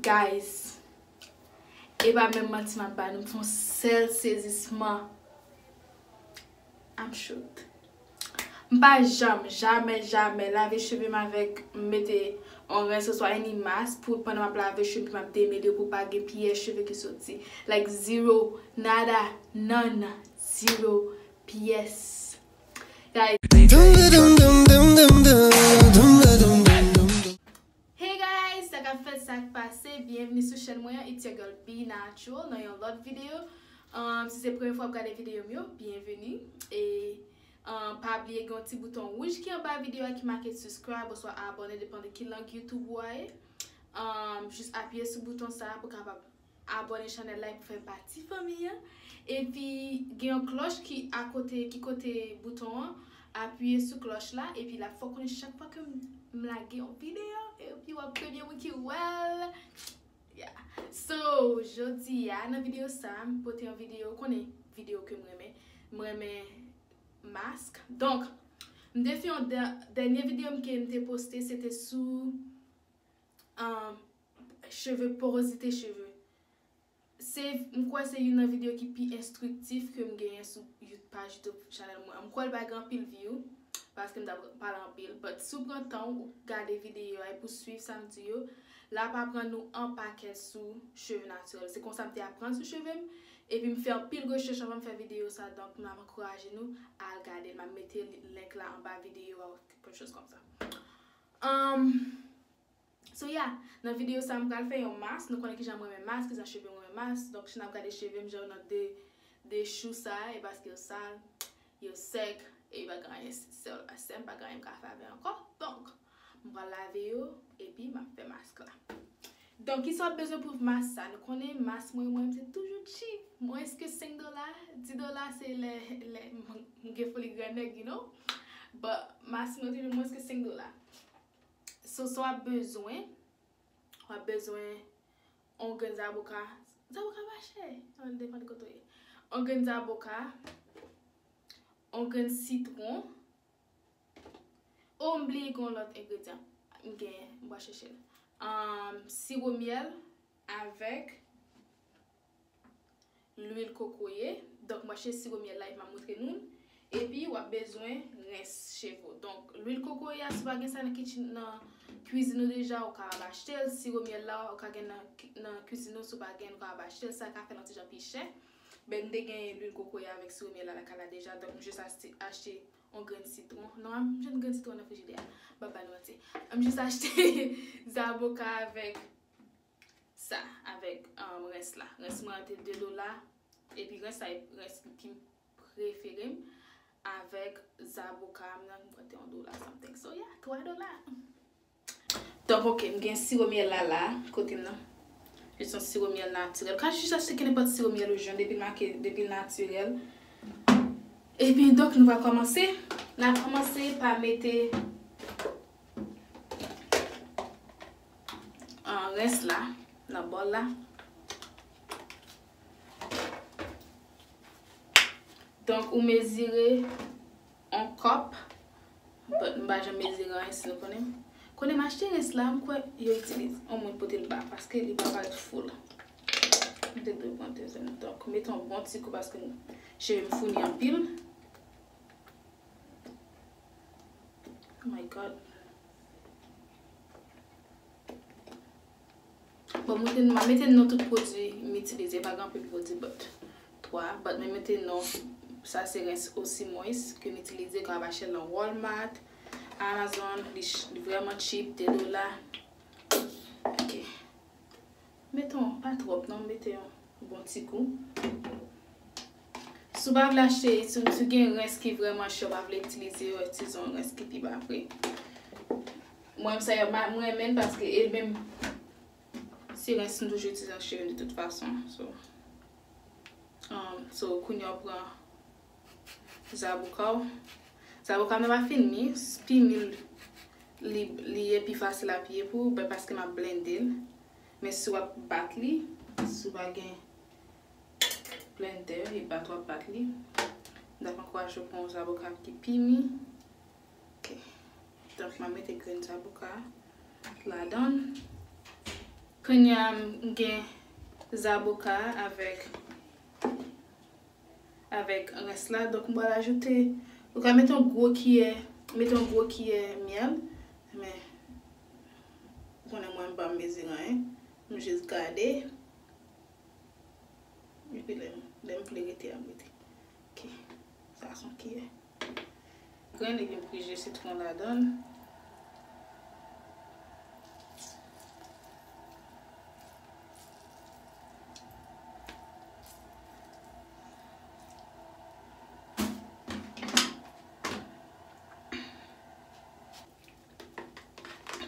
Guys e pa menm manti map ba nou m fon sèl sezisman I'm shook m pa janm jamè jamè lave chevem avèk m mete on rens oswa any mask pou pandan map lave chevem pou map demele pou pa gen pyès cheve ki soti like zero nada none zero pyès guys. Hey guys sa kap fèt sak pase byenvni sou chèn mwen an it's your girl B natural nan yon lòt video humm si se premye fwa wap gade video m yo byenvni e humm pa bliye gen yon ti bouton wouj ki anba video a ki make suscribe oswa abone depan de ki lang youtube ou a ye humm jis apiye sou bouton sa pou kapab Abone chanel la pou fè pati fanmi an epi gen yon klòch ki akote ki kote bouton an apiye sou klòch la epi lap fè w konnen chak fwa kem lage yon video epi wap premye moun ki wèl ya so jodia nan video sa m pote yon video konnen video kem renmen m renmen mask donk m te fè yon dènye video m ke m te poste se te sou cheve porozite cheve se m kwè se youn nan video ki pi enstriktif ke m genyen sou you paj youtube chanèl mwen an m kwè l pa gen anpil view paske m ta pral pale anpil but si w pran tan w gade video a epi w swiv sa m di yo l ap aprann ou anpakèt sou cheve natirèl se konsa m te aprann sou cheve m epi m fè anpil rechèch avan m fè video sa donk m ap ankouraje nou al gade l m ap mete link la anba video a ou kèk chòz kòm sa humm. So yeah, nan video sa m pral fè yon mask, nou konnen kijan m renmen mask, kijan cheve m renmen mask, donk si nap gade cheve m jan yo nan 2 2 chou sa e paske yo sal, yo sèk e yo pa gen anyen sè yo la sè m pa gen anyen m ka fè avè ankò, donk m pral lave yo epi map fè mask la. Donk kisa wap bezwen pou mask sa, nou konnen mask mwen mwen m se toujou cheap, mwens ke 5 dola, 10 dola se lè lè m gen foli grannèg you know, but mask mwen toujou mwens ke 5 dola. Sos ou ap bezwen, ou ap bezwen yon grenn zaboka, zaboka pa chè, sa depan de kote ou ye, yon grenn zaboka, yon grenn sitwon, oh m bliye gen yon lòt engredyan, m genyen m pral chèche l, siwo myèl avèk. lwil kokoye donk manche siwo myèl la epi map moutre nou l epi wap bezwen rens cheve donk lwil kokoye a si pa gen sa nan kitchen nan kwizin ou deja ou ka al achte l siwo myèl la ou ka gen nan kwizin ou si w pa gen ou ka al achte l sa ka fè l yon ti jan pi chè bè m te gen lwil kokoye avèk siwo myèl la lakay la deja donk m jis achte yon grenn sitwon nan m jwenn grenn sitwon nan frijidè a m pap ba nou manti m jis achte zaboka avèk sa avèk rens la rens mwen an te 2 dola epi rens la e rens ki preferem avèk zaboka m nan mwen te yon dola something so ya 3 dola donk ok m gen siwo myèl la la kote m nan li son siwo myèl natirèl ka jis achte ki nenpòt siwo myèl ou jwenn depi l make depi l natirèl epi donk nou va kòmanse na kòmanse pa mete. Rès la nan bòl la. Donk ou mezire 1 kòp. But m pa janm mezire anyen si nou konnen. Kote m achte rès la, m kwè yo itilize. On moun pote l ba paske li pa parèt full. M te dwe pran dezyèm. Donk mete yon bon ti kou paske cheve m founi anpil. Oh my God. Bon mwen te mwen mete non tout pwodwi m itilize, pa gen anpil pwodwi but 3, but mwen mete non sa se rens osi mwens ke m itilize ke ap achte l nan Walmart, Amazon, li vrèman cheap, 2 dola. Meton pa trop non mete yon bon ti gou. Si w pa vle achte si w gen rens ki vreman chè w pa vle itilize yo itize yon rens ki pi ba pri. Mwen sa yo m renmen l paske e menm se rens m toujou itilize nan cheve m de tout fason so. So kounya w pran zaboka w zaboka mwen pa fin mi pi mil li li ye pi fasil a piye pou ou paske map blendel men si wap bat li si w pa gen blender e bat wap bat li mtap ankouraje w pran yon zaboka ki pi mi ok donk map mete grenn zaboka ladann kounya m gen zaboka avèk. avèk rès la donk m pral ajoute ou ka mete yon gwo kiyè mete yon gwo kiyè myèl men ou konnen mwen m pa mezire anyen m jis gade epi lèm vle rete a m rete ok sa son kiyè. Grenn li gen pri je sitron ladanl.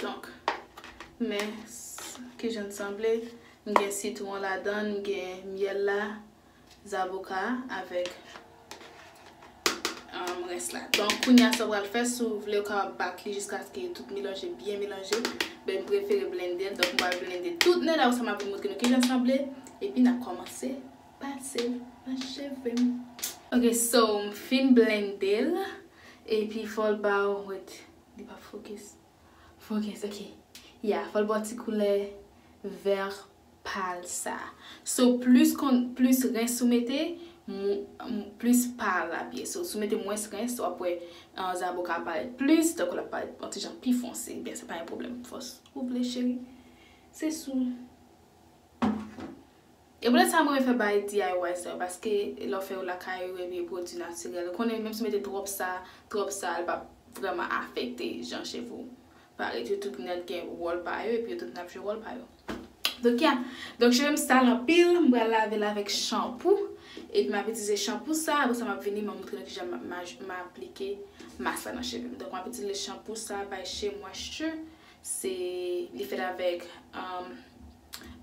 Donk men kijan l sanble. M gen sitron ladanl, m gen myèl la. zaboka a avèk rès la. Donk kounye a sa w pral fè si w vle ou kapab bat li jiskaske tout melanje byen melanje. Ben m prefere blende l donk m pral blende tout nè la apre sa m ap vin montre nou kijan l sanble epi n ap kòmanse pase l nan cheve m. Ok so m fin blende l epi fò l ba w wait li pa focus focus ok ya fò l ba w ti koulè vè pal sa. So plus kon plus rens ou mete plus pal la ap ye. So si w mete mwens rens wap wè zaboka ap parèt plus tankou lap parèt yon ti jan pi fonse. Ebyen se pa yon pwoblèm fòs ou vle cheri. Se sou. E poutèt sa m renmen fè bagay DIY sa yo paske lè w fè yo lakay ou ebyen pwodui natirèl. Ou konnen menm si w mete twòp sa, twòp sa l pap vrèman afekte jan cheve w. Pa ret yo tout nèt gen wòl pa yo epi yo tout nap jwe wòl pa yo. Donk ya, donk cheve m sal anpil m pral lave l avèk chanpou epi map itilize chanpou sa apre sa map vini mwen montre nou kijan m aplike mask la nan cheve m. Donk map itilize chanpou sa by Shea Moisture se li fèt avèk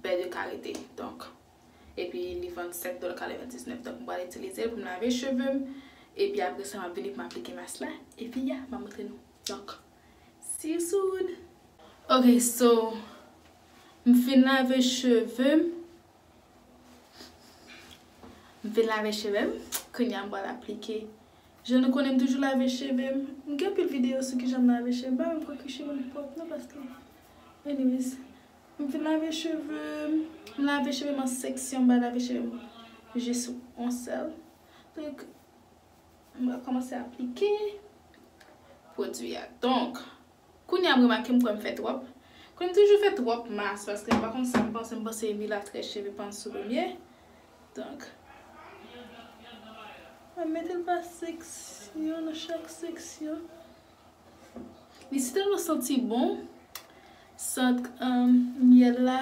bè de karite donk epi li vann 7 dòla 99 donk m pral itilize l pou m lave cheve m epi apre sa map vini pou m aplike mask la epi ya map montre nou. Donk si soud. Ok so m fin lave cheve m. M fin lave cheve m kounya m pral aplike jan nou konnen m toujou lave cheve m. M gen anpil video sou kijan m lave cheve m pa menm kwè ke cheve m pwòp non paske anyways m fin lave cheve m. M lave cheve m an seksyon m pa lave cheve m jis on sèl. M pral kòmanse aplike pwodui a. Donk, kounye a m remake m kwè m fè twòp. Kounye m toujou fè twòp mas paske m pa konn sa m panse. M panse ui la trè cheve pa ansou limyè. Donk, m ap mete l pa seksyon nan chak seksyon. Li si tèlman santi bon sant myèl la.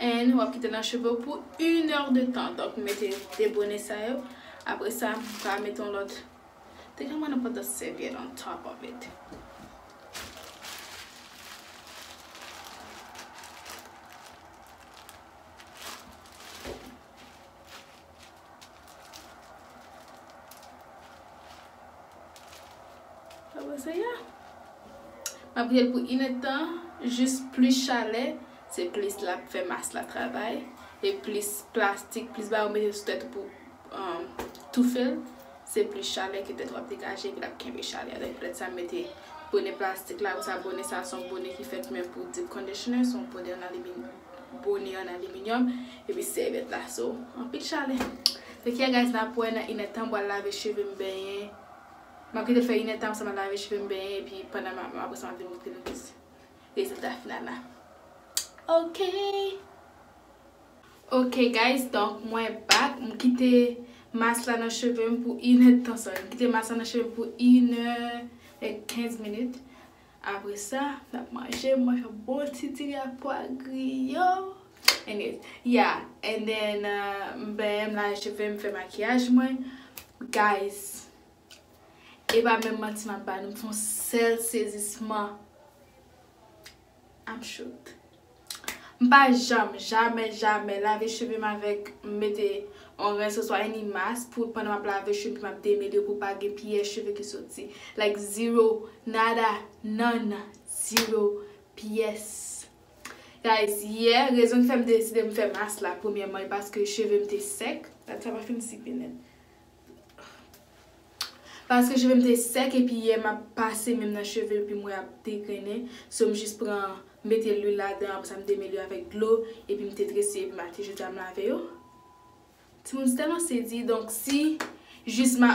and wap kite nan cheve ou pou yn heure de tan donk m mete 2 bone sa yo apre sa m ka mete yon lòt te ka mwen nenpòt lòt sèvyèt on top of it Map bwye l pou 1 èd tan jis plis chalè se plis lap fè mas la travay e plis plastik plis bagay ou mete sou tèt ou pou toufe l se plis chalè ke tèt ou ap degaje epi lap kenbe chalè a donk pou tèt sa m mete bone plastik la apresa bone sa son bone ki fèt menm pou deep conditioner son bone an aliminium. bone an aliminyòm epi sèvyèt la so anpil chalè take care guys nap wè nan inèdtan bwal lave cheve m benyen map kitel fè inèdtan apresa map lave cheve m benyen epi pandan map apresa map vin moutre nou plis rezilta final la ok ok guys donk mwen back m kite mas la nan cheve m pou inèdtan sorry m kite mas la nan cheve m pou inè e kenz minit Apre sa, n ap manje, mwen fè bon ti diri ak pwa griyo. Anyways, yeah, and then m benyen, m lave cheve m, m fè makiyaj mwen. Guys, e pa menm manti m ap ba nou, m fè yon sèl sezisman, I'm shooked. M pa janm, jamè, jamè lave cheve m avèk m mete on rens oswa any mask pou pandan m ap lave cheve m ap demele pou pa gen pyè cheve ki soti. Like zero, nada, none, zero, pyès. Guys, yè, rezon ki fè m deside m fè mask la premyèman e paske cheve m te sèk, dat sa pa fin sipe nèt. Paske chevem te sèk epi yè map pase menm nan cheve epim wè ap degrennen so m jis pran mete lwil ladan apre sa m demele yo avèk dlo epim te trese epi maten jodi a m lave yo timoun se tèlman sezi donk si jis ma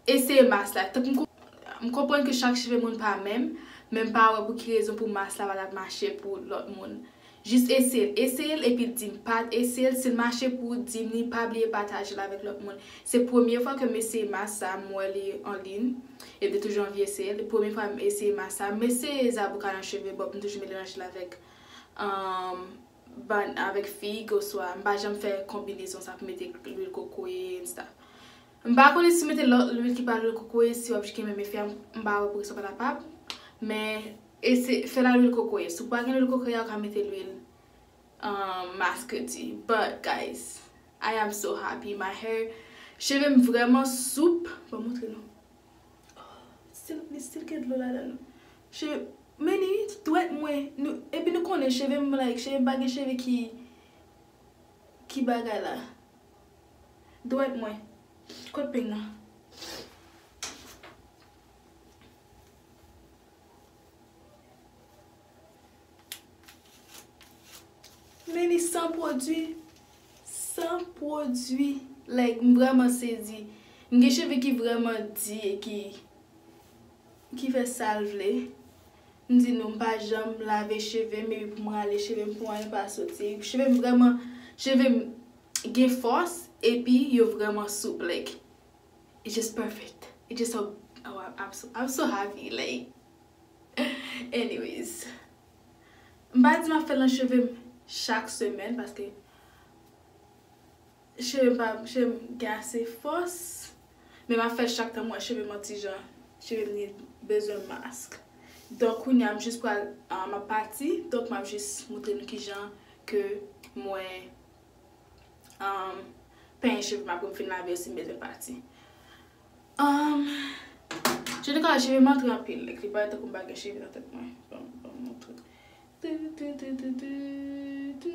eseye mas la tank m konprann ke chak cheve moun pa menm men m pa wè pou ki rezon pou mas la pa tap mache pou lòt moun. Jis eseyel eseyel epil dim pal eseyel sil mache pouw dim li pa bliye patajel avèk lòt moun se premye fwa kem eseye mas sa m wè li an lin e mte toujou anvi eseyel e premye fwa m eseye mas sa m eseye zaboka nan cheve bòb m toujou melanjel avèk bann avèk fig oswa m pa janm fè konbinezon sa pou mete lwil kokoye ensta. M pa konnen si w mete lòt lwil ki pa lwil kokoye si w ap jke menm efè an m pa wè poukisa w pa kapab men ese fè l a lwil kokoye si w pa gen lwil kokoye a ou ka mete lwil masketi but guys I am so happy my hair cheve m vrèman soup ban m montre nou ohh li still gen dlo ladan l cheve m men ni dwèt mwen nou epi nou konnen cheve m like cheve m pa gen cheve ki ki bagay la. Dwèt mwen. Kot peng nan. Men li san pwodwi. San pwodwi. Like m vreman sezi. M gen cheve ki vreman di e ki. Ki fè sal vle. M di nou m pa janm lave cheve m epi pou m rale cheve m pou anyen pa soti. Cheve m vrèman cheve m gen fòs epi yo vrèman soup like it just perfect it just so I'm so happy like anyways m pa di m ap fè l nan cheve m chak semèn paske Cheve m pa janm gen ase fòs men map fè chak tan m wè cheve m an ti jan cheve m need bezwen mask donk kounya m jis pral map pati donk map jis moutre nou kijan ke mwen penyen cheve m apre m fin lave yo si m bezwen pati je ne ka cheve m antre anpil lèk li parèt tankou m pa gen cheve nan tèt mwen banm moutre tututututututu.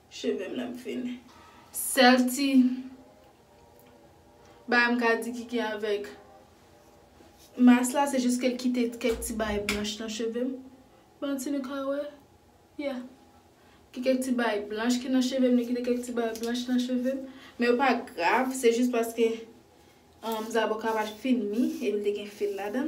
Chevem la m fini. Sel ti Bagay m ka di ki gen avek Mask la se jis kel kite kek ti bagay blanch nan chevem Bon si nou ka we Yeah Gen kek ti bagay blanch ki nan chevem li kite kek ti bagay blanch nan chevem Men yo pa grav se jis paske Zaboka pa fin mi epi li te gen fil ladann.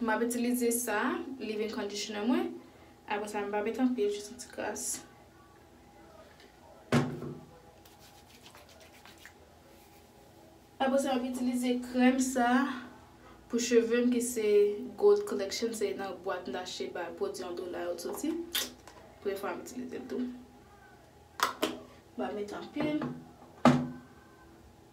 Map itilize sa leave in conditioner mwen apre sa mpa met anpil jis yon ti kras. Apre sa map itilize krèm sa pou chevem ki se gold collection se nan bwat mta achte pa pwodwi yon dola yo t soti. Premye fwa map itilizel tou. Mpa met anpil.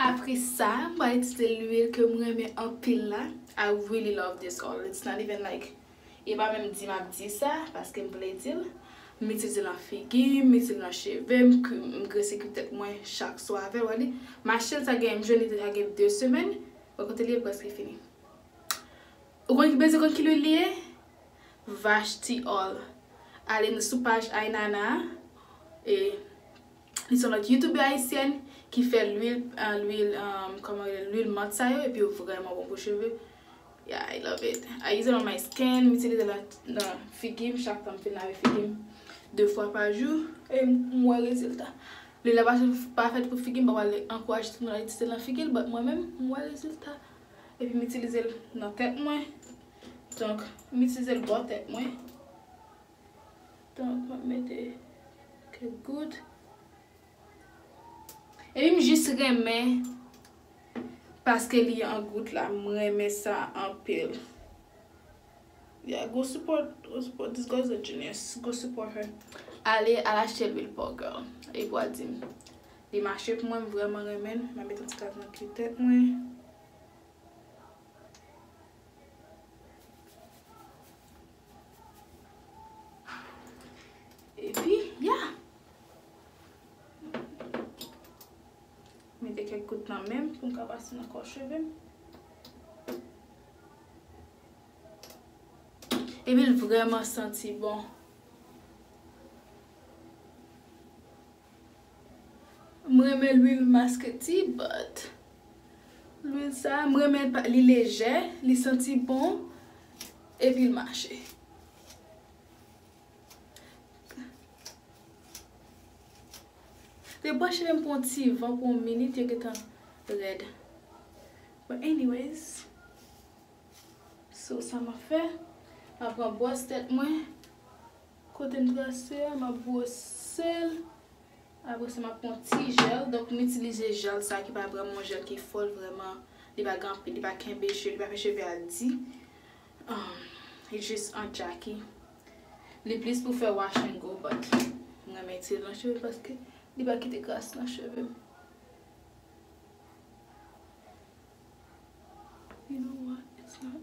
Apre sa mwen itilize lwil ke m renmen anpil la, I really love this oil, it's not even like, e pa menm di map di sa paske m vle di l, m itilize l nan figi m, m itilize l nan cheve m, m grese kwi tèt mwen chak swa avè l, wè li, m achte l sa gen, m jwenn li deja gen 2 semèn, wè kote li ye preske fini. Ou konn ki bezwen konn ki lwil li ye? Vashti oil, ale sou paj Ainana a e. Li son lòt youtube ayisyèn ki fè lwil lwil kòman rele lwil mant sa yo epi yo vrèman bon pou cheve yeah I love it I use it on my skin m itilize l nan figi m chak tan m fin lave figi m 2 fwa pa jou e m wè rezilta lwil la pa fèt pou figi m pa pral ankouraje tout moun al itilize l nan figi l but mwen menm m wè rezilta epi m itilize l nan tèt mwen donk m itilize l bò tèt mwen. Donk map mete kèk gout. Epi m jis renmen paske li an gout la m renmen sa anpil. Yeah go support go support this girl is a genius go support her. Ale al achte lwil paw girl epi wa dim. Li mache pou mwen m vrèman renmen l. Map met yon ti kras nan pye tèt mwen. Epi, ya! Mete kèk gout nan men m pou m ka pase nan kò cheve m. Epi l vrèman santi bon. M renmen lwil maske ti but lwil sa m renmen l li lejè li santi bon epi l mache. Te bwè cheve m pou yon ti van pou yon minit yo gentan rèd but anyways so sa map fè map pran bwòs tèt mwen. Kotem trase a map brosel apre sa map pran yon ti jel donk m itilize jel sa ki pa vreman yon jel ki fò l vreman li pa gen anpil li pa kenbe cheve li pa fè cheve a di li jis an jaky li plis pou fè wash and go but m renmen itilize l nan cheve paske li pa kite kras nan cheve m you know what it's not.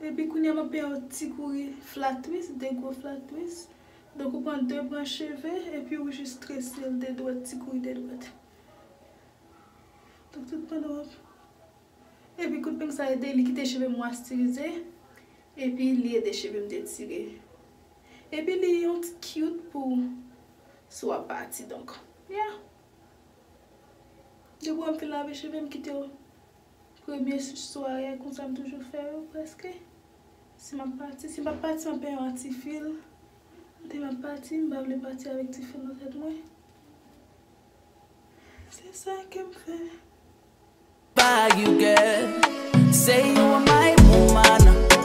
Epi kounya map peye yon ti kouri flatris, 2 gwo flatris. Donk ou pran 2 branch cheve epi ou jis trese l 2 dwèt, ti kouri 2 dwèt. Donk tout pandan wap. Epi kout peng sa ede li kite cheve mwastirize epi li ede cheve m detire. Epi li yon ti kyout pou sou wap pati donk. Ya. Depi wèm fin lave cheve m kite yo. Premye sware konsa m toujou fè yo prèske. Si m ap pati, si m pa p pati m ap pran yon ti fil. Kote m ap pati, m pa vle pati avèk ti fil nan tèt mwen. Se sa ke m fè.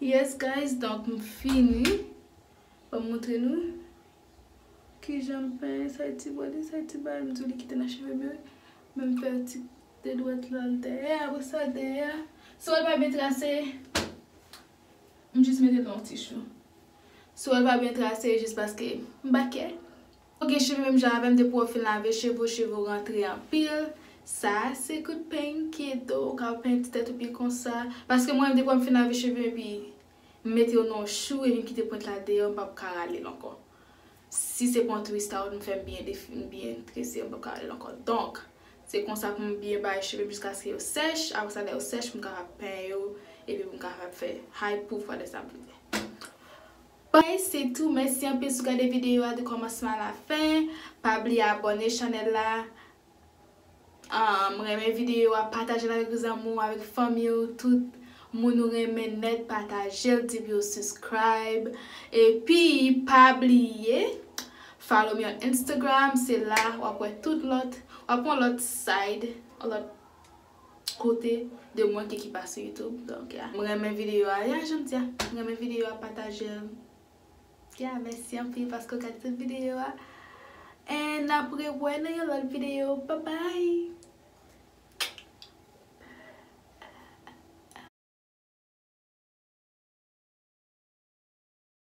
Yes guys donk m fini Fò m montre nou Kijan m fè sa e ti bòdè sa e ti bagay m di w li kite nan cheve m yo wi Men m fè ti de dwèt la l dèyè apre sa dèyè a Si w wè l pa byen trase M jis mete l nan yon ti chou Si w wè l pa byen trase jis paske m bakè Ou gen cheve menm jan avèm depi wè w fin lave cheve w cheve w rantre anpil sa se kout peny ki ede w ou ka peny ti tèt ou pi konsa paske mwen menm depi wè m fin lave cheve m epi m mete yo nan yon chou epi m kite pwent la deyò m pap ka rale l ankò si se pa yon twist out m fè m byen defi m byen trese yo m pap ka rale l ankò donk se konsa pou m byen bay cheve m jiskaske yo sèch apre sa lè yo sèch pou m kapab peny yo epi pou m kapab fè hay pouf wè lè sa m fini. Bye se tou mèsi anpil si w gade videyo a de kòmansman a la fen pa bliye abòne chanèl la humm renmen videyo a patajel avèk zanmi w avèk fanmi w tout Moun ou renmen nèt patajel di pou yo suscribe epi pa bliye follow me on Instagram se la wap wè tout lòt wap wè lòt side lòt kote de mwen ki ki pa sou youtube donk ya m renmen video a ya janm di a m renmen video a patajel ya mèsi anpil paske w gad tout video a en nap rewè nan yon lot video babay.